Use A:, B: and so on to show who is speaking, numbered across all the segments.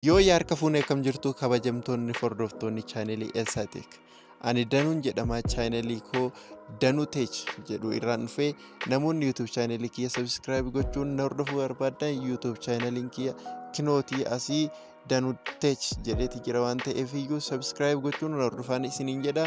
A: Yoo yaa harka fuunee kam jirtu kabajamtoonni hordoftoonni chaanelii Elsaa Teek. Ani Danuun jedhama chaanelii koo Danuu Teech jedhu irraan dhufee namoonni YouTube chaanelii kiyya subscribe gochuun na hordofuu barbaadan YouTube chaaneliin kiyya kinootii asii Danuu Teech jedheeti jira waan ta'eef iyyuu subscribe gochuun na hordofaan isiniin jedha.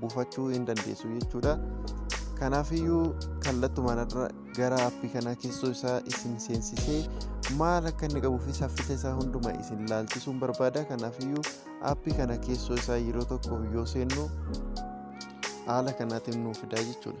A: buufachuu hin dandeessu jechuudha kanaafiyyuu kallattumaan irra gara appii kanaa keessoo isaa isin seensisee maal akka inni qabuu fi saffisa isaa hunduma isin ilaalchisuun barbaada kanaafiyyuu appii kana keessoo isaa yeroo tokko yoo seennu haala kanaatiin nuuf fidaa jechuudha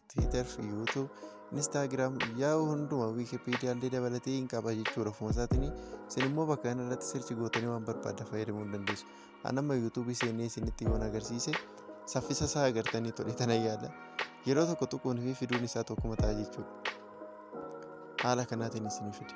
A: Twitter, YouTube, Instagram, Yahoo hunduma Wikipedia illee dabalatee hin qaba jechuudha ofuma isaatiin. Isin immoo bakka kana irratti sirchi gootanii waan barbaaddan fayyadamuu ni dandeessu. An amma YouTube seenee isinitti yoon agarsiise saffisa isaa agartanii tole tana yaala. Yeroo tokko tuquun fi fiduun isaa tokkuma ta'a jechuudha. Haala kanaatiin isinii fide.